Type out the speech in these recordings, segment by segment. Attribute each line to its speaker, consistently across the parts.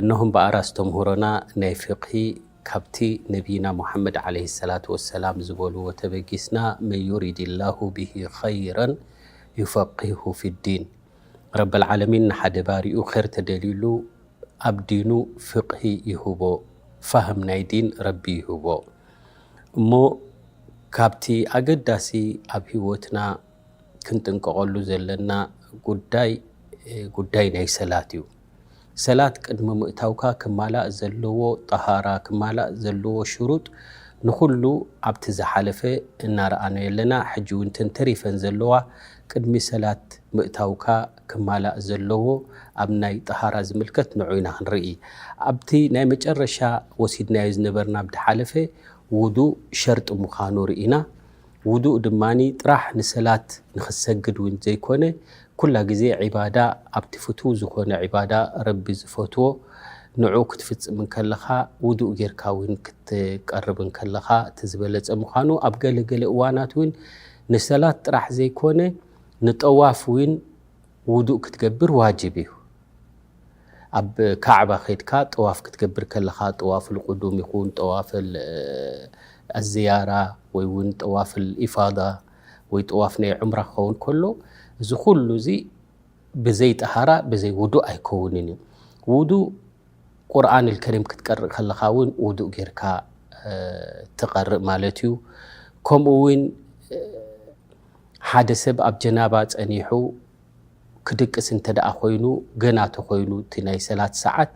Speaker 1: እነሆ እምበኣር ኣስተምህሮና ናይ ፊቕሂ ካብቲ ነቢይና ሙሓመድ ዓለይሂ ሰላቱ ወሰላም ዝበልዎ ተበጊስና መን ዩሪዲላሁ ቢሂ ኸይረን ዩፈቂሁ ፊዲን ረበል ዓለሚን ንሓደ ባሪኡ ኼር ተደልዩሉ ኣብ ዲኑ ፍቕሂ ይህቦ ፋህም ናይ ዲን ረቢ ይህቦ እሞ ካብቲ ኣገዳሲ ኣብ ህይወትና ክንጥንቀቐሉ ዘለና ጉዳይ ጉዳይ ናይ ሰላት እዩ። ሰላት ቅድሚ ምእታውካ ክማላእ ዘለዎ ጠሃራ ክማላእ ዘለዎ ሽሩጥ ንኹሉ ኣብቲ ዝሓለፈ እናረኣናዮ ኣለና ሕጂ ውን እተን ተሪፈን ዘለዋ ቅድሚ ሰላት ምእታውካ ክማላእ ዘለዎ ኣብ ናይ ጠሃራ ዝምልከት ንዑ ኢና ክንርኢ ኣብቲ ናይ መጨረሻ ወሲድናዮ ዝነበርና ብድሓለፈ ውዱእ ሸርጢ ምዃኑ ርኢና ውዱእ ድማ ጥራሕ ንሰላት ንኽትሰግድ ውን ዘይኮነ ኩላ ግዜ ዒባዳ ኣብቲ ፍትው ዝኾነ ዒባዳ ረቢ ዝፈትዎ ንዑ ክትፍጽም እንከለኻ ውዱእ ጌርካ ውን ክትቀርብ እንከለኻ እቲ ዝበለጸ ምዃኑ ኣብ ገለ ገለ እዋናት ውን ንሰላት ጥራሕ ዘይኮነ ንጠዋፍ ውን ውዱእ ክትገብር ዋጅብ እዩ። ኣብ ካዕባ ኬድካ ጠዋፍ ክትገብር ከለኻ ጠዋፍ ኣልቁዱም ይኹን ጠዋፍ ኣልዝያራ ወይ እውን ጠዋፍ ኣልኢፋዳ ወይ ጠዋፍ ናይ ዑምራ ክኸውን ከሎ እዚ ኩሉ እዚ ብዘይ ጠሃራ ብዘይ ውዱእ ኣይከውንን እዩ። ውዱእ ቁርኣን ኣልከሪም ክትቀርእ ከለኻ እውን ውዱእ ጌርካ ትቐርእ ማለት እዩ። ከምኡ እውን ሓደ ሰብ ኣብ ጀናባ ፀኒሑ ክድቅስ እንተደኣ ኮይኑ ገና ተኾይኑ እቲ ናይ ሰላት ሰዓት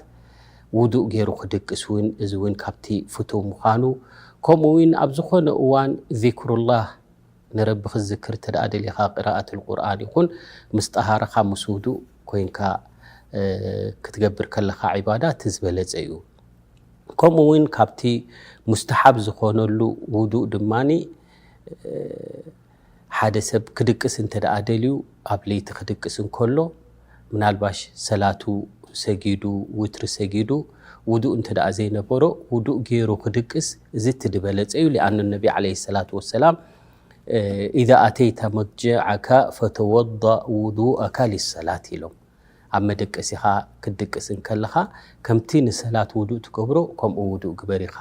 Speaker 1: ውዱእ ጌሩ ክድቅስ ውን እዚ ውን ካብቲ ፍቱው ምዃኑ ከምኡ ውን ኣብ ዝኾነ እዋን ዚክሩላህ ንረቢ ክትዝክር እንተደኣ ደሊኻ ቂራኣቱል ቁርኣን ይኹን ምስ ጠሃራኻ ምስ ውዱእ ኮይንካ ክትገብር ከለኻ ዒባዳ እቲ ዝበለጸ ዩ ከምኡ ውን ካብቲ ሙስተሓብ ዝኾነሉ ውዱእ ድማ ሓደ ሰብ ክድቅስ እንተደኣ ደልዩ ኣብ ለይቲ ክድቅስ እንከሎ ምናልባሽ ሰላቱ ሰጊዱ ውትሪ ሰጊዱ ውዱእ እንተደኣ ዘይነበሮ ውዱእ ገይሩ ክድቅስ እዚ እቲ ድበለጸ እዩ ሊኣኑ ነቢ ዓለይሂ ሰላቱ ወሰላም ኢዛ ኣተይታ መድጀዐካ ፈተወደእ ውዱእካ ሊሰላት ኢሎም ኣብ መደቀሲኻ ክትድቅስ እንከለኻ ከምቲ ንሰላት ውዱእ ትገብሮ ከምኡ ውዱእ ግበር ኢኻ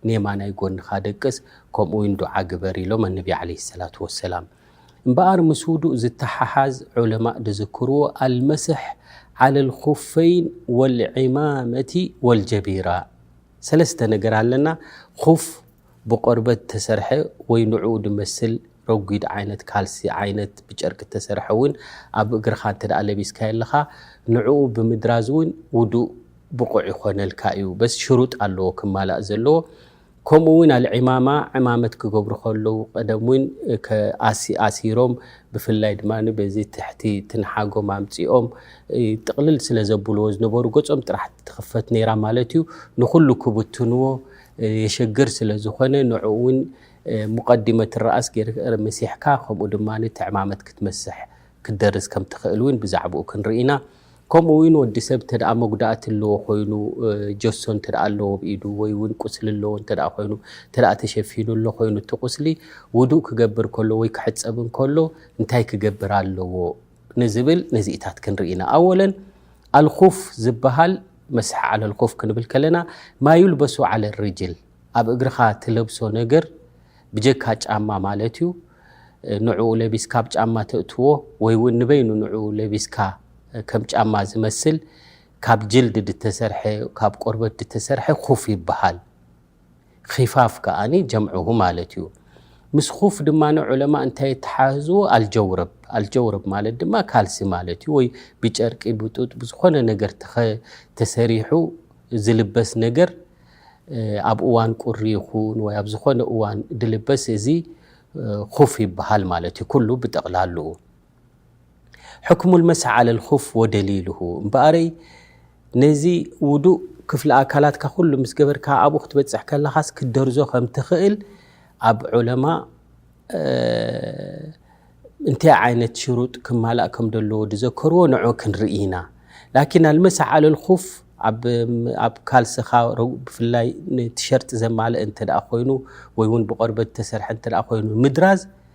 Speaker 1: ንየማናይ ጎንኻ ደቅስ ከምኡውን ዱዓ ግበር ኢሎም ኣነቢ ዓለይሂ ሰላቱ ወሰላም። እምበኣር ምስ ውዱእ ዝተሓሓዝ ዑለማእ ድዝክርዎ ኣልመስሕ ዓለል ኹፈይን ወልዒማመቲ ወልጀቢራ ሰለስተ ነገር ኣለና ኹፍ፣ ብቆርበት እተሰርሐ ወይ ንዕኡ ድመስል ረጒድ ዓይነት ካልሲ ዓይነት ብጨርቂ እተሰርሐ እውን ኣብ እግርኻ እንተ ለቢስካዮ ኣለኻ ንዕኡ ብምድራዝ እውን ውዱእ ብቑዕ ይኾነልካ እዩ በስ ሽሩጥ ኣለዎ ክማላእ ዘለዎ ከምኡ እውን ኣልዒማማ ዕማመት ክገብሩ ከለዉ ቀደም እውን ኣሲሮም ብፍላይ ድማ በዚ ትሕቲ ትንሓጎም ኣምፂኦም ጥቕልል ስለ ዘብልዎ ዝነበሩ ገፆም ጥራሕ ትኽፈት ነይራ ማለት እዩ ንኹሉ ክብትንዎ የሸግር ስለ ዝኾነ ንዕኡ ውን ሙቀዲመት ራእስ ገይር መሲሕካ ከምኡ ድማ ትዕማመት ክትመስሕ ክትደርስ ከም ትኽእል ውን ብዛዕብኡ ክንርኢ ኢና። ከምኡ ውን ወዲ ሰብ እንተ መጉዳእቲ ኣለዎ ኮይኑ ጀሶ እንተ ኣለዎ ኣብ ኢዱ ወይ ውን ቁስሊ ኣለዎ እንተ ኮይኑ እንተ ተሸፊኑ ኣሎ ኮይኑ እቲ ቁስሊ ውዱእ ክገብር ከሎ ወይ ክሕጸብ እንከሎ እንታይ ክገብር ኣለዎ ንዝብል ነዚኢታት ክንርኢ ኢና። ኣወለን ኣልኹፍ ዝበሃል መስሐ ዓለል ኮፍ ክንብል ከለና ማዩልበሱ ዓለል ርጅል ኣብ እግርኻ ትለብሶ ነገር ብጀካ ጫማ ማለት እዩ ንዕኡ ለቢስካ ብ ጫማ ተእትዎ ወይ ውን ንበይኑ ንኡ ለቢስካ ከም ጫማ ዝመስል ካብ ጅልድ ድተሰርሐ ካብ ቆርበት ድተሰርሐ ኩፍ ይበሃል ኺፋፍ ከኣ ጀምዕሁ ማለት እዩ። ምስ ኹፍ ድማ ዑለማእ እንታይ የተሓህዝዎ? ኣልጀውረብ፣ ኣልጀውረብ ማለት ድማ ካልሲ ማለት እዩ፣ ወይ ብጨርቂ ብጡጥ ብዝኾነ ነገር ተሰሪሑ ዝልበስ ነገር ኣብ እዋን ቁሪ ይኹን ወይ ኣብ ዝኾነ እዋን ዝልበስ እዚ ኹፍ ይበሃል ማለት እዩ ኩሉ ብጠቕላልኡ። ሕክሙ ልመሰሕ ዓለ ልኹፍ ወደሊሉሁ እምበኣረይ ነዚ ውዱእ ክፍሊ ኣካላትካ ኩሉ ምስ ገበርካ ኣብኡ ክትበጽሕ ከለኻስ ክትደርዞ ከም ትኽእል ኣብ ዑለማ እንታይ ዓይነት ሽሩጥ ክማላእ ከም ዘለዎ ዝዘከርዎ ንዑ ክንርኢ ኢና ላኪን ኣልመሰሕ ዓለ ልኹፍ ኣብ ካልስኻ ብፍላይ ቲሸርጢ ዘማልእ እንተ ኮይኑ ወይ ውን ብቆርበት ዝተሰርሐ እተ ኮይኑ ምድራዝ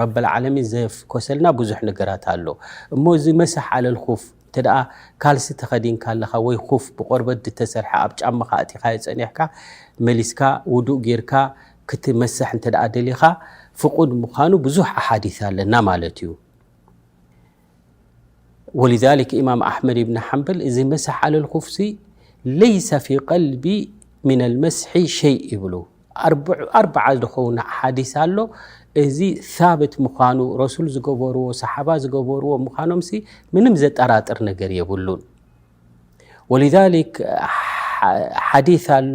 Speaker 1: ረብ ኣልዓለሚን ዘፍኮሰልና ብዙሕ ነገራት ኣሎ እሞ እዚ መስሕ ዓለል ኹፍ እንተ ካልሲ ተኸዲንካ ኣለኻ ወይ ኹፍ ብቆርበት ድተሰርሐ ኣብ ጫማኻ ኣእቲኻዮ ጸኒሕካ መሊስካ ውዱእ ጌርካ ክትመሰሕ እንተ ደሊኻ ፍቁድ ምዃኑ ብዙሕ ኣሓዲስ ኣለና ማለት እዩ። ወሊዛሊክ ኢማም ኣሕመድ ኢብኒ ሓንበል እዚ መስሕ ኣለል ኩፍሲ ለይሰ ፊ ቀልቢ ምና ልመስሒ ሸይ ይብሉ ኣርብዓ ዝኸውን ሓዲስ ኣሎ እዚ ሳብት ምዃኑ ረሱል ዝገበርዎ ሰሓባ ዝገበርዎ ምዃኖም ሲ ምንም ዘጠራጥር ነገር የብሉን ወሊዛሊክ ሓዲስ ኣሎ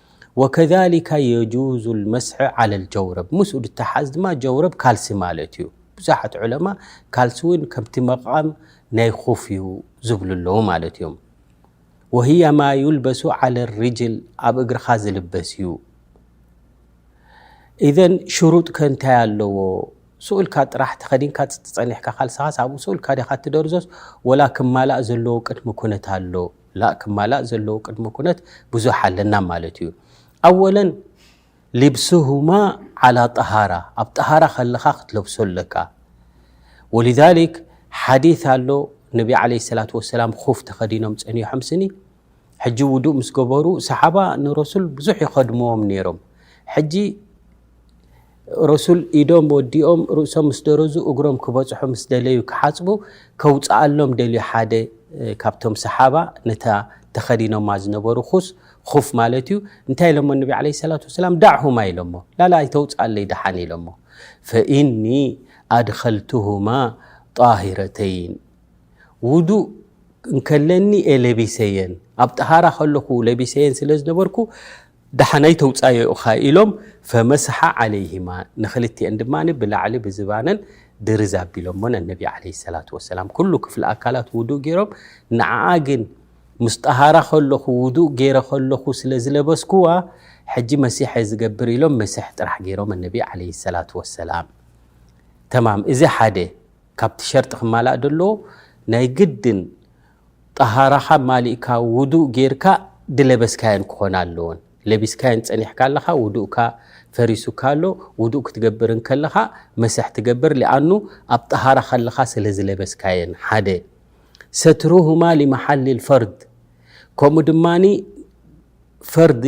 Speaker 1: ወከዛሊካ የጁዙ ልመስሐ ዐለ ልጀውረብ ምስኡ ዝተሓዝ ድማ ጀውረብ ካልሲ ማለት እዩ። ብዙሓት ዑለማ ካልሲ እውን ከምቲ መቃም ናይ ኹፍ እዩ ዝብሉ ኣለዉ ማለት እዮም። ወህየ ማ ዩልበሱ ዐለ ሪጅል ኣብ እግርኻ ዝልበስ እዩ። ኢዘን ሽሩጥ ከ እንታይ ኣለዎ? ስኡልካ ጥራሕ ተኸዲንካ ጸኒሕካ ካልስኻስ ኣብኡ ስኡልካ ዲኻ እትደርዞስ ወላ ክማላእ ዘለዎ ቅድሚ ኩነት ኣሎ? ላእ ክማላእ ዘለዎ ቅድመ ኩነት ብዙሕ ኣለና ማለት እዩ ኣወለን ሊብሱሁማ ዓላ ጠሃራ ኣብ ጠሃራ ከለኻ ክትለብሶ ኣለካ ወሊዛሊክ ሓዲት ኣሎ ነቢ ዓለይሂ ሰላቱ ወሰላም ኹፍ ተኸዲኖም ጸኒሖም ስኒ ሕጂ ውዱእ ምስ ገበሩ ሰሓባ ንረሱል ብዙሕ ይኸድምዎም ነይሮም ሕጂ ረሱል ኢዶም ወዲኦም ርእሶም ምስ ደረዙ እግሮም ክበጽሑ ምስ ደለዩ ክሓጽቡ ከውጽኣሎም ደልዩ ሓደ ካብቶም ሰሓባ ነታ ተኸዲኖማ ዝነበሩ ኹስ ኹፍ ማለት እዩ እንታይ ኢሎሞ ነቢ ዓለይሂ ሰላቱ ወሰላም ዳዕሁማ ኢሎሞ ላላ ኣይተውጽኣለይ ደሓን ኢሎሞ ፈኢኒ ኣድኸልቱሁማ ጣሂረተይን ውዱእ እንከለኒ እየ ለቢሰየን ኣብ ጠሃራ ከለኹ ለቢሰየን ስለ ዝነበርኩ ደሓን ኣይተውጻዮ ኢኻ ኢሎም ፈመሰሓ ዓለይሂማ ንኽልቲኤን ድማ ብላዕሊ ብዝባነን ድርዝ ኣቢሎሞ ነነቢ ዓለይሂ ሰላቱ ወሰላም ኩሉ ክፍሊ ኣካላት ውዱእ ጌሮም ንዓኣ ግን ምስ ጠሃራ ከለኹ ውዱእ ጌረ ከለኹ ስለ ዝለበስኩዋ ሕጂ መሲሕ እየ ዝገብር ኢሎም መሲሕ ጥራሕ ጌሮም ኣነቢ ዓለይሂ ሰላቱ ወሰላም ተማም እዚ ሓደ ካብቲ ሸርጢ ክማላእ ደለዎ ናይ ግድን ጠሃራኻ ማሊእካ ውዱእ ጌርካ ድለበስካየን ክኾና ኣለወን። ለቢስካየን ጸኒሕካ ኣለኻ ውዱእካ ፈሪሱካ ኣሎ። ውዱእ ክትገብር እንከለኻ መስሕ ትገብር ሊኣኑ ኣብ ጠሃራ ከለኻ ስለ ዝለበስካየን ሓደ። ሰትሩሁማ ሊመሓሊል ፈርድ ከምኡ ድማ ፈርዲ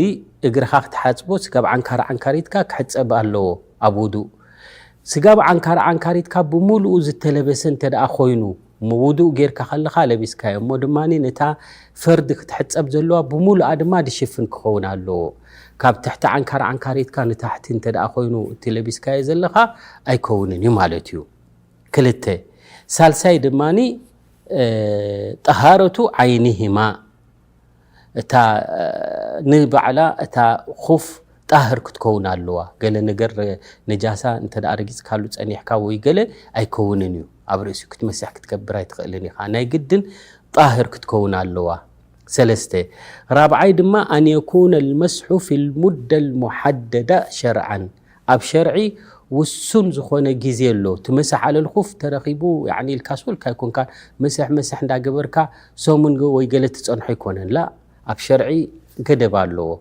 Speaker 1: እግርኻ ክትሓጽቦ ስጋብ ዓንካር ዓንካሪትካ ክሕጸብ ኣለዎ ኣብ ውዱእ። ስጋብ ዓንካር ዓንካሪትካ ብምሉኡ ዝተለበሰ እንተደኣ ኮይኑ እሞ ውዱእ ጌርካ ከለኻ ለቢስካዮ እሞ ድማ ነታ ፈርድ ክትሕጸብ ዘለዋ ብምሉኣ ድማ ድሽፍን ክኸውን ኣለዎ ካብ ትሕቲ ዓንካር ዓንካሪትካ ንታሕቲ እንተ ኮይኑ እቲ ለቢስካዮ ዘለኻ ኣይከውንን እዩ ማለት እዩ ክልተ ሳልሳይ ድማ ጠሃረቱ ዓይኒሂማ እታ ንባዕላ እታ ኹፍ ጣህር ክትከውን ኣለዋ ገለ ነገር ነጃሳ እንተ ረጊፅካሉ ፀኒሕካ ወይ ገለ ኣይከውንን እዩ ኣብ ርእሲ ክትመሰሕ ክትገብር ኣይትኽእልን ኢኻ ናይ ግድን ጣህር ክትከውን ኣለዋ ሰለስተ ራብዓይ ድማ ኣን የኩነ ልመስሑ ፊ ልሙደ ልሙሓደዳ ሸርዓን ኣብ ሸርዒ ውሱን ዝኾነ ግዜ ኣሎ እቲ መስሕ ኣለልኹፍ ተረኺቡ ያዕኒ ኢልካ ሶልካ ኣይኮንካን መስሕ መስሕ እንዳገበርካ ሰሙን ወይ ገለ ትጸንሖ ኣይኮነን ላእ ኣብ ሸርዒ ገደብ ኣለዎ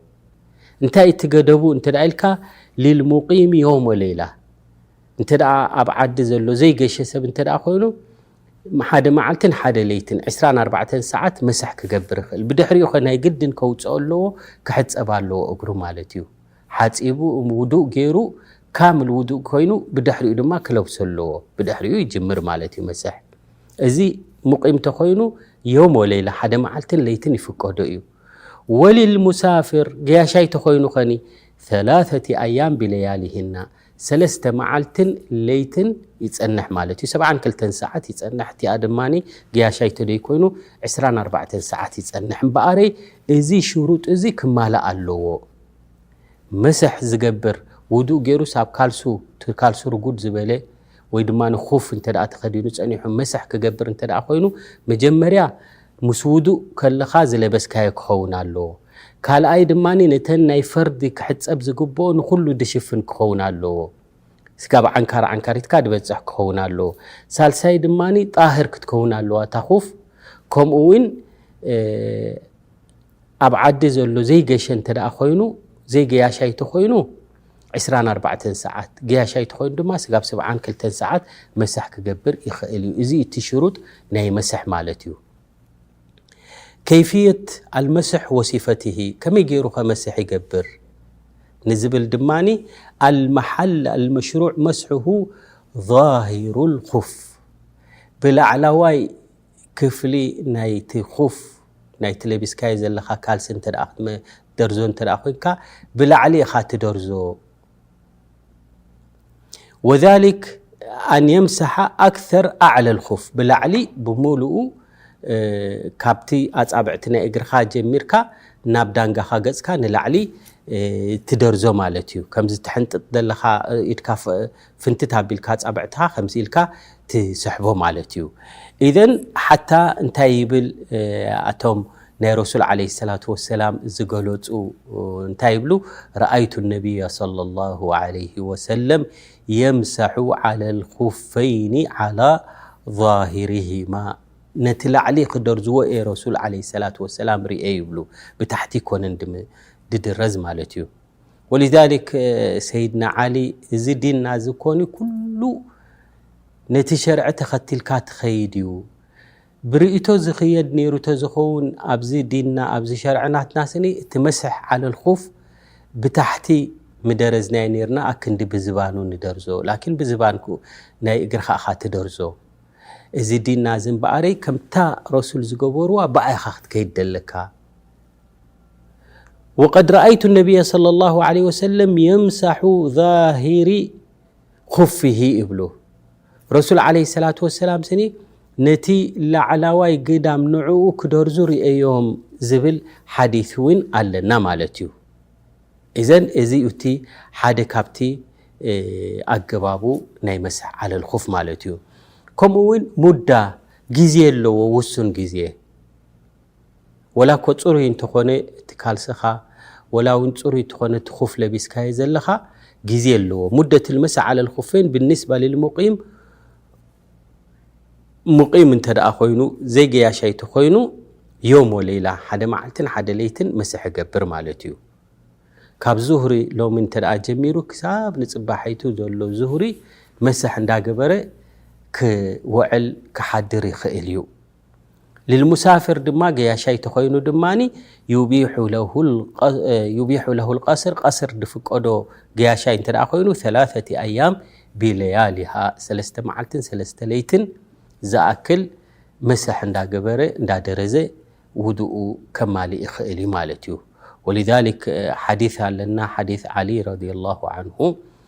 Speaker 1: እንታይ እቲ ገደቡ እንተ ኢልካ ሊልሙቂሚ ዮሞ ሌላ እንተ ኣብ ዓዲ ዘሎ ዘይገሸ ሰብ እንተ ኮይኑ ሓደ መዓልትን ሓደ ለይትን 24 ሰዓት መስሕ ክገብር ይኽእል ብድሕሪኡ ኸ ናይ ግድን ከውፅኦ ኣለዎ ክሕፀብ ኣለዎ እግሩ ማለት እዩ ሓጺቡ ውዱእ ጌሩ ካምል ውዱእ ኮይኑ ብድሕሪኡ ድማ ክለብሶ ኣለዎ ብድሕሪኡ ይጅምር ማለት እዩ መስሕ እዚ ሙቂም ተኮይኑ ዮም ወሌላ ሓደ መዓልትን ለይትን ይፍቀዶ እዩ ወሊልሙሳፍር ገያሻይ ተኮይኑ ኸኒ ثላثቲ ኣያም ብለያሊህና ሰለስተ መዓልትን ለይትን ይጸንሕ ማለት እዩ። ሰብዓን ክልተን ሰዓት ይጸንሕ እቲኣ ድማ ገያሻይ ተደይ ኮይኑ ዕስራን ኣርባዕተን ሰዓት ይጸንሕ እምበኣረይ እዚ ሽሩጥ እዚ ክማላእ ኣለዎ። መስሕ ዝገብር ውዱእ ገይሩስ ኣብ ካልሱ ካልሱ ርጉድ ዝበለ ወይ ድማ ንኹፍ እንተ ተኸዲኑ ጸኒሑ መስሕ ክገብር እንተ ኮይኑ መጀመርያ ምስ ውዱእ ከለኻ ዝለበስካዮ ክኸውን ኣለዎ። ካልኣይ ድማ ነተን ናይ ፈርዲ ክሕጸብ ዝግብኦ ንኹሉ ድሽፍን ክኸውን ኣለዎ። ስጋብ ዓንካር ዓንካሪትካ ድበጽሕ ክኸውን ኣለዎ። ሳልሳይ ድማ ጣህር ክትከውን ኣለዋ እታ ኹፍ ከምኡ ውን ኣብ ዓዲ ዘሎ ዘይገሸ እንተ ኮይኑ ዘይገያሻይ ተኮይኑ ዕስራን ኣርባዕተን ሰዓት ገያሻይ ተኮይኑ ድማ ስጋብ ስብዓን ክልተን ሰዓት መሳሕ ክገብር ይኽእል እዩ። እዚ እቲ ሽሩጥ ናይ መስሕ ማለት እዩ። ከይፍየት ኣልመስሕ ወሲፈትሂ ከመይ ገይሩ ከ መስሕ ይገብር ንዝብል ድማ ኣልመሓል ኣልመሽሩዕ መስሕሁ ዛሂሩ ልኹፍ ብላዕላዋይ ክፍሊ ናይቲ ኹፍ ናይቲ ለቢስካዮ ዘለኻ ካልሲ እንተ ክትደርዞ እንተ ኮይንካ ብላዕሊ ኢኻ ትደርዞ ወሊክ ኣን የምሰሓ ኣክር ኣዕለ ልኹፍ ብላዕሊ ብምሉኡ ካብቲ ኣፃብዕቲ ናይ እግርኻ ጀሚርካ ናብ ዳንጋኻ ገፅካ ንላዕሊ ትደርዞ ማለት እዩ ከምዚ ትሕንጥጥ ዘለኻ ኢድካ ፍንትት ኣቢልካ ኣጻብዕትኻ ከምዚ ኢልካ ትስሕቦ ማለት እዩ። ኢዘን ሓታ እንታይ ይብል ኣቶም ናይ ረሱል ዓለይሂ ሰላቱ ወሰላም ዝገለጹ እንታይ ይብሉ ረኣይቱ ነብያ ሰለላሁ ዓለይሂ ወሰለም የምሰሑ ዓለል ኹፈይኒ ዓላ ዛሂሪሂማ ነቲ ላዕሊ ክደርዝዎ እየ ረሱል ዓለይሂ ሰላቱ ወሰላም ርኤ ይብሉ ብታሕቲ ኣይኮነን ድድረዝ ማለት እዩ። ወልዛሊክ ሰይድና ዓሊ እዚ ዲና እዚ ኮኒ ኩሉ ነቲ ሸርዒ ተኸትልካ ትኸይድ እዩ ብርእቶ ዝኽየድ ነይሩ ተዝኸውን ኣብዚ ዲና ኣብዚ ሸርዕናትና ስኒ እቲ መስሕ ዓለልኹፍ ብታሕቲ ምደረዝናይ ነርና ኣክንዲ ብዝባኑ ንደርዞ ላኪን ብዝባን ናይ እግርካ እኻ ትደርዞ እዚ ዲና እዚ እምበኣረይ ከምታ ረሱል ዝገበርዋ ብኣይኻ ክትከይድ ደለካ ወቀድ ረኣይቱ ነብየ ሰለላሁ ዓለይሂ ወሰለም የምሳሑ ዛሂሪ ኹፊሂ ይብሉ ረሱል ዓለይሂ ሰላቱ ወሰላም ስኒ ነቲ ላዕላዋይ ግዳም ንዕኡ ክደርዙ ርእዮም ዝብል ሓዲስ እውን ኣለና ማለት እዩ እዘን እዚ እቲ ሓደ ካብቲ ኣገባቡ ናይ መስሕ ዓለል ኹፍ ማለት እዩ ከምኡ እውን ሙዳ ግዜ ኣለዎ ውሱን ግዜ ወላ እኮ ፅሩይ እንተኾነ እቲ ካልሰኻ ወላ ውን ፅሩይ እትኾነ እቲ ኹፍ ለቢስካዮ ዘለኻ ግዜ ኣለዎ ሙደት ልመሳ ዓለ ልኹፈይን ብኒስባ ልልሙቂም ሙቂም እንተ ደኣ ኮይኑ ዘይገያሻይ ተኾይኑ ዮም ወለይላ ሓደ መዓልትን ሓደ ለይትን መስሕ ይገብር ማለት እዩ ካብ ዙሁሪ ሎሚ እንተ ደኣ ጀሚሩ ክሳብ ንፅባሐይቱ ዘሎ ዙሁሪ መስሕ እንዳገበረ ክወዕል ክሓድር ይኽእል እዩ ልልሙሳፍር ድማ ገያሻይ ተኾይኑ ድማ ዩቢሑ ለሁ ልቀስር ቀስር ድፍቀዶ ገያሻይ እንተ ኮይኑ ላተቲ ኣያም ቢለያሊሃ ሰለስተ መዓልትን ሰለስተ ለይትን ዝኣክል መሰሕ እንዳገበረ እንዳደረዘ ውድኡ ከማልእ ይኽእል እዩ ማለት እዩ ወልሊክ ሓዲ ኣለና ሓዲ ዓሊ ረድ ላሁ ዓንሁ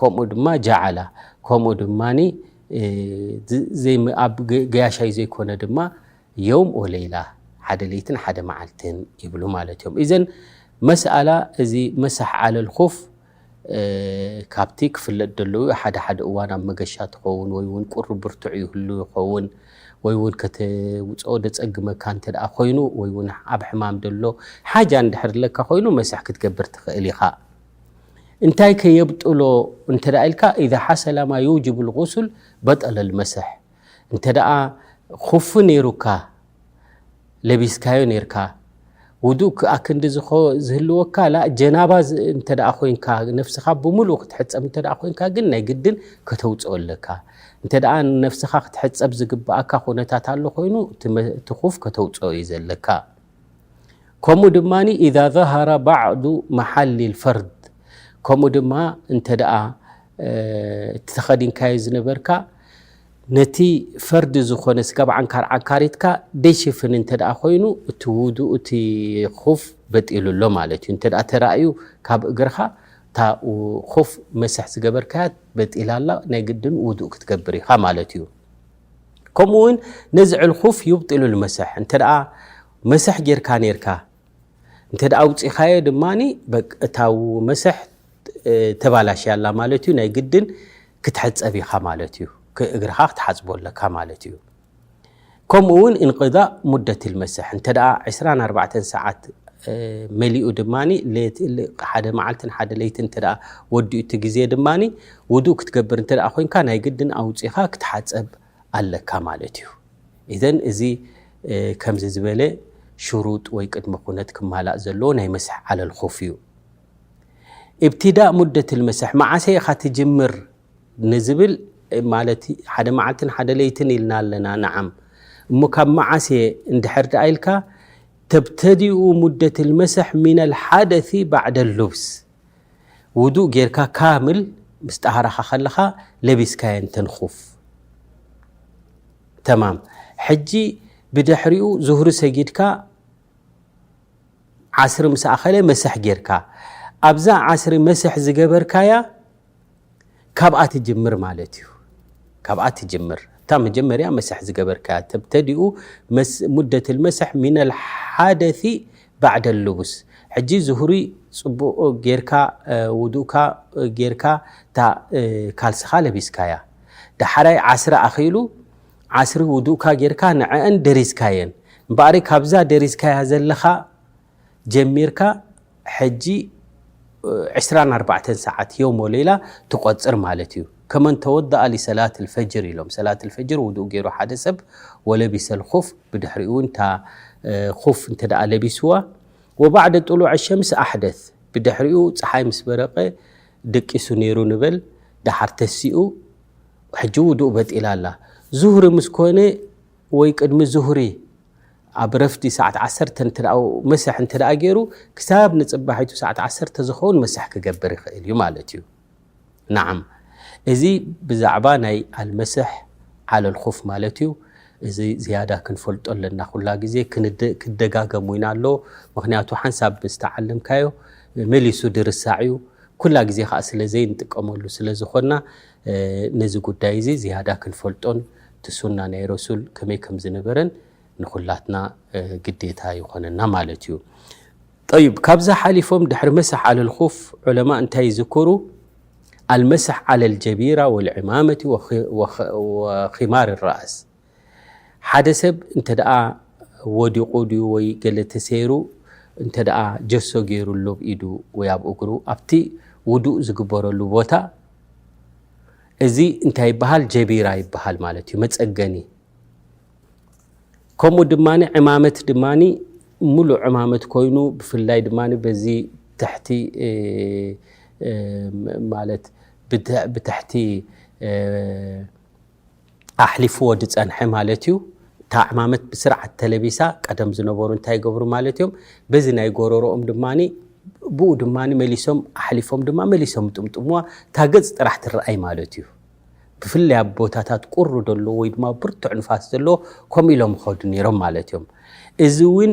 Speaker 1: ከምኡ ድማ ጃዓላ ከምኡ ድማ ኣብ ገያሻይ ዘይኮነ ድማ የውም ወለይላ ሓደ ለይትን ሓደ መዓልትን ይብሉ ማለት እዮም እዘን መስኣላ እዚ መሳሕ ዓለል ኹፍ ካብቲ ክፍለጥ ደለዉ ሓደ ሓደ እዋን ኣብ መገሻ ትኸውን ወይ ውን ቁሪ ብርቱዕ ይህሉ ይኸውን ወይ ውን ከተውፅኦ ደፀግመካ እንተ ኮይኑ ወይ ውን ኣብ ሕማም ደሎ ሓጃ እንድሕር ለካ ኮይኑ መስሕ ክትገብር ትኽእል ኢኻ። እንታይ ከ የብጥሎ እንተ ኢልካ ኢዛ ሓሰላ ማ ዩውጅቡ ልغሱል በጠለ ልመስሕ እንተ ደኣ ኹፊ ነይሩካ ለቢስካዮ ነርካ ውዱእ ክኣ ክንዲ ዝህልወካ ላ ጀናባ እንተ ኮይንካ ነፍስኻ ብምሉእ ክትሕፀብ እንተ ኮይንካ ግን ናይ ግድን ከተውፅኦ ኣለካ እንተ ነፍስኻ ክትሕፀብ ዝግብኣካ ኩነታት ኣሎ ኮይኑ እቲ ኹፍ ከተውፅኦ እዩ ዘለካ ከምኡ ድማ ኢዛ ዛሃራ ባዕዱ መሓሊል ፈርድ ከምኡ ድማ እንተ ደኣ እቲ ተኸዲንካዮ ዝነበርካ ነቲ ፈርዲ ዝኾነ ስጋብ ዓንካር ዓንካሪትካ ደይሽፍን እንተ ኮይኑ እቲ ውዱ እቲ ኹፍ በጢሉ ኣሎ ማለት እዩ እንተ ተራእዩ ካብ እግርኻ እታ ኹፍ መስሕ ዝገበርካያ በጢላ ኣላ ናይ ግድን ውዱእ ክትገብር ኢኻ ማለት እዩ ከምኡ ውን ነዚ ዕልኹፍ ዩብጢሉ ልመሰሕ እንተ መሰሕ ጌርካ ነርካ እንተ ኣውፂኻዮ ድማ እታ መሰሕ ተባላሽያ ኣላ ማለት እዩ ናይ ግድን ክትሕፀብ ኢኻ ማለት እዩ እግርኻ ክትሓፅቦ ኣለካ ማለት እዩ ከምኡ ውን እንቅዳእ ሙደት ልመሰሕ እንተ 24 ሰዓት መሊኡ ድማ ሓደ መዓልትን ሓደ ለይትን ወዲኡ እቲ ግዜ ድማ ውዱእ ክትገብር እንተ ኮይንካ ናይ ግድን ኣውጺኻ ክትሓጸብ ኣለካ ማለት እዩ። ኢዘን እዚ ከምዚ ዝበለ ሽሩጥ ወይ ቅድመ ኩነት ክማላእ ዘለዎ ናይ መስሕ ዓለል ኹፍ እዩ። ኢብትዳእ ሙደትል መስሕ መዓሰ ኢኻ ትጅምር ንዝብል ማለት ሓደ መዓልትን ሓደ ለይትን ኢልና ኣለና ንዓም እሞ ካብ መዓስ እየ እንድሕር ደኣ ኢልካ ተብተዲኡ ሙደትል መስሕ ሚነል ሓደፊ ባዕደል ሉብስ ውዱእ ጌርካ ካምል ምስ ጠሃራኻ ከለኻ ለቢስካየን ተንኹፍ ተማም ሕጂ ብድሕሪኡ ዙህሪ ሰጊድካ ዓስሪ ምስ ኣኸለ መስሕ ጌርካ ኣብዛ ዓስሪ መስሕ ዝገበርካያ ካብኣ ትጅምር ማለት እዩ ካብኣ ትጅምር እታ መጀመርያ መስሕ ዝገበርካያ ተብተዲኡ ሙደት ልመስሕ ሚነ ልሓደፊ ባዕደ ልቡስ ሕጂ ዝሁሪ ፅቡቅ ጌርካ ውዱእካ ጌርካ እታ ካልስኻ ለቢስካያ ዳሓራይ ዓስሪ ኣኺሉ ዓስሪ ውዱእካ ጌርካ ንዐአን ደሪዝካየን እምበኣሪ ካብዛ ደሪዝካያ ዘለኻ ጀሚርካ ሕጂ ዕስራን ኣርባዕተን ሰዓት የውም ወለይላ ትቆጽር ማለት እዩ ከመን ተወደኣ ሊሰላት ልፈጅር ኢሎም ሰላት ልፈጅር ውዱእ ገይሩ ሓደ ሰብ ወለቢሰ ልኹፍ ብድሕሪኡ እውን እታ ኹፍ እንተ ለቢስዋ ወባዕደ ጥሉዕ ሸምስ ኣሕደት ብድሕሪኡ ፀሓይ ምስ በረቐ ደቂሱ ነይሩ ንበል ደሓር ተሲኡ ሕጂ ውዱእ በጢላ ኣላ ዙህሪ ምስ ኮነ ወይ ቅድሚ ዙህሪ ኣብ ረፍዲ ሰዓት ዓሰርተ እንትደኣው መሰሕ እንተደኣ ገይሩ ክሳብ ንጽባሒቱ ሰዓት ዓሰርተ ዝኸውን መሰሕ ክገብር ይኽእል እዩ ማለት እዩ። ናዓም እዚ ብዛዕባ ናይ ኣልመሰሕ ዓለል ኹፍ ማለት እዩ። እዚ ዝያዳ ክንፈልጦ ኣለና ኩላ ግዜ ክደጋገም ውን ኣሎ ምክንያቱ ሓንሳብ ምስ ተዓለምካዮ መሊሱ ድርሳዕ እዩ ኩላ ግዜ ከኣ ስለ ዘይንጥቀመሉ ስለ ዝኾና ነዚ ጉዳይ እዚ ዝያዳ ክንፈልጦን እቲ ሱና ናይ ረሱል ከመይ ከም ዝነበረን ንኹላትና ግዴታ ይኾነና ማለት እዩ። ጠይብ ካብዛ ሓሊፎም ድሕሪ መስሕ ዓለል ኹፍ ዑለማእ እንታይ ይዝክሩ? ኣልመስሕ ዓለል ጀቢራ ወልዕማመቲ ወኺማር ራእስ ሓደ ሰብ እንተ ወዲቑ ድዩ ወይ ገለ ተሰይሩ እንተ ጀሶ ገይሩሉ ኣብ ኢዱ ወይ ኣብ እግሩ ኣብቲ ውዱእ ዝግበረሉ ቦታ እዚ እንታይ ይበሃል ጀቢራ ይበሃል ማለት እዩ መፀገኒ ከምኡ ድማ ዕማመት ድማ ሙሉእ ዕማመት ኮይኑ ብፍላይ ድማ በዚ ትሕቲ ማለት ብትሕቲ ኣሕሊፍዎ ዝፀንሐ ማለት እዩ። እታ ዕማመት ብስርዓት ተለቢሳ ቀደም ዝነበሩ እንታይ ይገብሩ ማለት እዮም በዚ ናይ ጎረሮኦም ድማ ብኡ ድማ መሊሶም ኣሕሊፎም ድማ መሊሶም ይጥምጥምዋ እታ ገፅ ጥራሕ ትረኣይ ማለት እዩ። ብፍላይ ኣብ ቦታታት ቁሪ ዘለዎ ወይ ድማ ብርቱዕ ንፋስ ዘለዎ ከምኡ ኢሎም ይኸዱ ነይሮም ማለት እዮም። እዚ እውን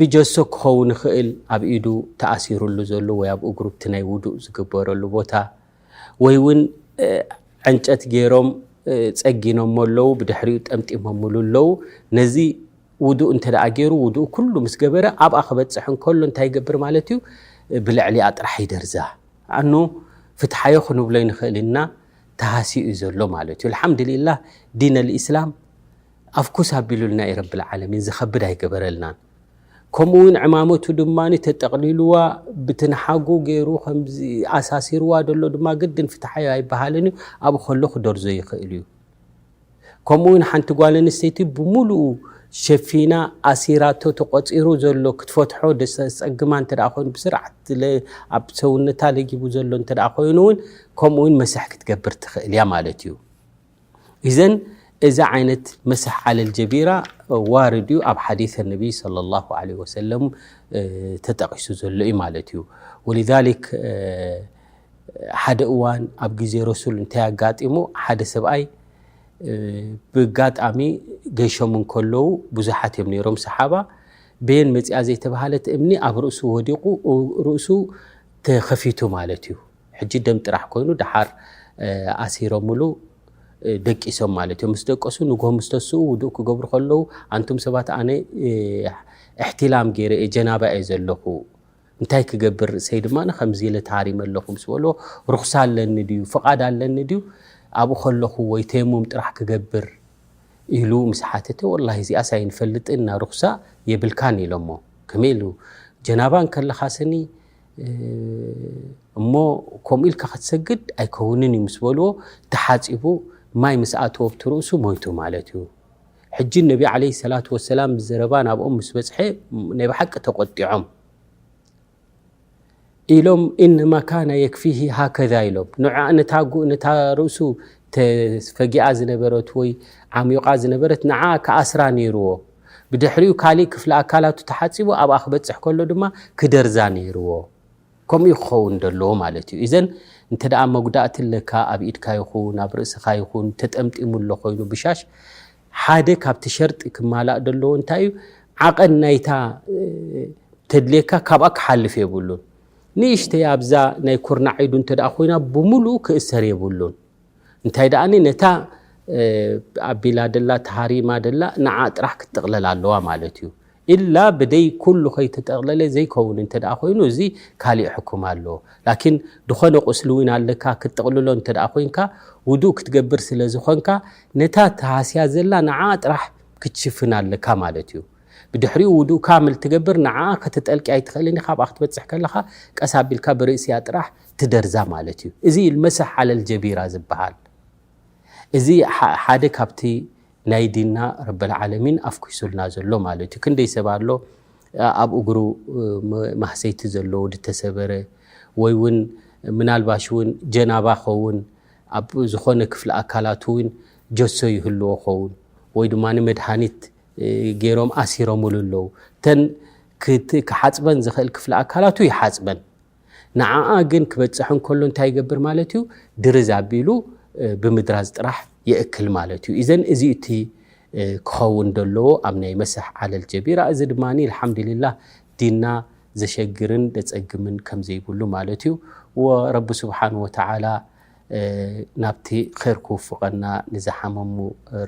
Speaker 1: ብጀሶ ክኸውን ይኽእል ኣብ ኢዱ ተኣሲሩሉ ዘሎ ወይ ኣብ እግሩ እቲ ናይ ውዱእ ዝግበረሉ ቦታ ወይ እውን ዕንጨት ገይሮም ጸጊኖሞ ኣለዉ ብድሕሪኡ ጠምጢሞምሉ ኣለዉ ነዚ ውዱእ እንተ ደኣ ገይሩ ውዱእ ኩሉ ምስ ገበረ ኣብኣ ክበጽሕ እንከሎ እንታይ ይገብር ማለት እዩ ብልዕሊኣ ጥራሕ ይደርዛ ኣኖ ፍትሓዮ ክንብሎ ይንኽእል ኢና ተሃሲኡ እዩ ዘሎ ማለት እዩ ኣልሓምዱሊላህ ዲን ኣልእስላም ኣፍኩስ ኣቢሉልና እዩ ረቢ ልዓለሚን ዝከብድ ኣይገበረልናን ከምኡ ውን ዕማመቱ ድማ ተጠቅሊልዋ ብትንሓጉ ገይሩ ከምዚ ኣሳሲርዋ ደሎ ድማ ግድን ፍትሓዮ ኣይበሃልን እዩ ኣብኡ ከሎ ክደርዞ ይክእል እዩ ከምኡ ውን ሓንቲ ጓል ኣንስተይቲ ብምሉኡ ሸፊና ኣሲራቶ ተቆፂሩ ዘሎ ክትፈትሖ ደሰፀግማ እንተ ኮይኑ ብስርዓት ኣብ ሰውነታ ለጊቡ ዘሎ እንተ ኮይኑ ውን ከምኡ ውን መስሕ ክትገብር ትክእል እያ ማለት እዩ ኢዘን እዚ ዓይነት መሰሕ ዓለል ጀቢራ ዋርድ እዩ ኣብ ሓዲث ነቢ صለ ላه ለ ወሰለም ተጠቂሱ ዘሎ እዩ ማለት እዩ ወልሊክ ሓደ እዋን ኣብ ግዜ ረሱል እንታይ ኣጋጢሙ ሓደ ሰብኣይ ብጋጣሚ ገይሾም እንከለዉ ብዙሓት እዮም ነይሮም ሰሓባ ቤን መፅኣ ዘይተባሃለት እምኒ ኣብ ርእሱ ወዲቑ ርእሱ ተኸፊቱ ማለት እዩ ሕጂ ደም ጥራሕ ኮይኑ ደሓር ኣሲሮምሉ ደቂሶም ማለት እዮም ምስ ደቀሱ ንግሆ ምስ ተስኡ ውዱእ ክገብሩ ከለዉ ኣንቱም ሰባት ኣነ እሕትላም ገይረ እየ ጀናባ እየ ዘለኹ እንታይ ክገብር ርእሰይ ድማ ከምዚ ኢለ ተሃሪመ ኣለኹ ምስ በልዎ ርኹሳ ኣለኒ ድዩ ፍቓድ ኣለኒ ድዩ ኣብኡ ከለኹ ወይ ተየሙም ጥራሕ ክገብር ኢሉ ምስ ሓተተ ወላሂ እዚኣስ ኣይንፈልጥን እና ርኹሳ የብልካን ኢሎሞ ከመይ ኢሉ ጀናባ እንከለኻ ስኒ እሞ ከምኡ ኢልካ ክትሰግድ ኣይከውንን እዩ ምስ በልዎ ተሓፂቡ ማይ ምስ ኣተዎ ኣብቲ ርእሱ ሞይቱ ማለት እዩ ሕጂ ነቢ ዓለይሂ ሰላቱ ወሰላም ዘረባ ናብኦም ምስ በጽሐ ናይ ብሓቂ ተቆጢዖም ኢሎም ኢነማ ካነ የክፊሂ ሃከዛ ኢሎም ንነታ ነታ ርእሱ ተፈጊኣ ዝነበረት ወይ ዓሚቓ ዝነበረት ንዓ ክኣስራ ነይርዎ ብድሕሪኡ ካልእ ክፍሊ ኣካላቱ ተሓጺቡ ኣብኣ ክበጽሕ ከሎ ድማ ክደርዛ ነይርዎ። ከምኡ እዩ ክኸውን ዘለዎ ማለት እዩ። ኢዘን እንተ መጉዳእቲ ኣለካ ኣብ ኢድካ ይኹን ኣብ ርእስኻ ይኹን ተጠምጢሙ ኣሎ ኮይኑ ብሻሽ ሓደ ካብቲ ሸርጢ ክማላእ ዘለዎ እንታይ እዩ ዓቐን ናይታ ተድልየካ ካብኣ ክሓልፍ የብሉን። ንእሽተይ ኣብዛ ናይ ኩርናዕ ኢዱ እንተ ኮይና ብምሉኡ ክእሰር የብሉን። እንታይ ደኣኒ ነታ ኣቢላ ደላ ተሃሪማ ደላ ንዓ ጥራሕ ክትጥቕለል ኣለዋ ማለት እዩ ኢላ ብደይ ኩሉ ከይተጠቕለለ ዘይከውን እንተ ኮይኑ እዚ ካሊእ ሕኩም ኣሎ ላኪን ዝኾነ ቁስሊ እውን ኣለካ ክትጥቕልሎ እንተ ኮንካ ውዱእ ክትገብር ስለ ዝኾንካ ነታ ተሃስያ ዘላ ንዓ ጥራሕ ክትሽፍን ኣለካ ማለት እዩ ብድሕሪኡ ውዱእ ካምል ትገብር ንዓ ከተጠልቂ ኣይትኽእልን ካብኣ ክትበፅሕ ከለኻ ቀስ ኣቢልካ ብርእሲያ ጥራሕ ትደርዛ ማለት እዩ። እዚ እዩ መሰሕ ዓለል ጀቢራ ዝበሃል። እዚ ሓደ ካብቲ ናይ ዲንና ረበል ዓለሚን ኣፍኲሱልና ዘሎ ማለት እዩ። ክንደይ ሰብ ኣሎ ኣብ እግሩ ማህሰይቲ ዘለዎ ድተሰበረ ወይ እውን ምናልባሽ እውን ጀናባ ኸውን ኣብ ዝኾነ ክፍሊ ኣካላቱ እውን ጀሶ ይህልዎ ኸውን ወይ ድማ መድሃኒት ገይሮም ኣሲሮምሉ ኣለዉ እተን ክሓፅበን ዝኽእል ክፍሊ ኣካላቱ ይሓፅበን ንዓኣ ግን ክበጽሕ እንከሎ እንታይ ይገብር ማለት እዩ ድርዝ ኣቢሉ ብምድራዝ ጥራሕ ይእክል ማለት እዩ ኢዘን እዚ እቲ ክኸውን ዘለዎ ኣብ ናይ መሰሕ ዓለል ጀቢራ እዚ ድማ ልሓምድልላህ ዲና ዘሸግርን ደጸግምን ከም ዘይብሉ ማለት እዩ ወረቢ ስብሓን ወተዓላ ናብቲ ር ክውፍቐና ንዝሓመሙ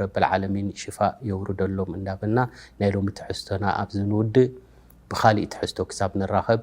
Speaker 1: ረብልዓለሚን ሽፋእ የውርደሎም እንዳበና ናይ ሎሚ ትሕዝቶና ኣብዚ ንውድእ ብካሊእ ትሕዝቶ ክሳብ ንራኸብ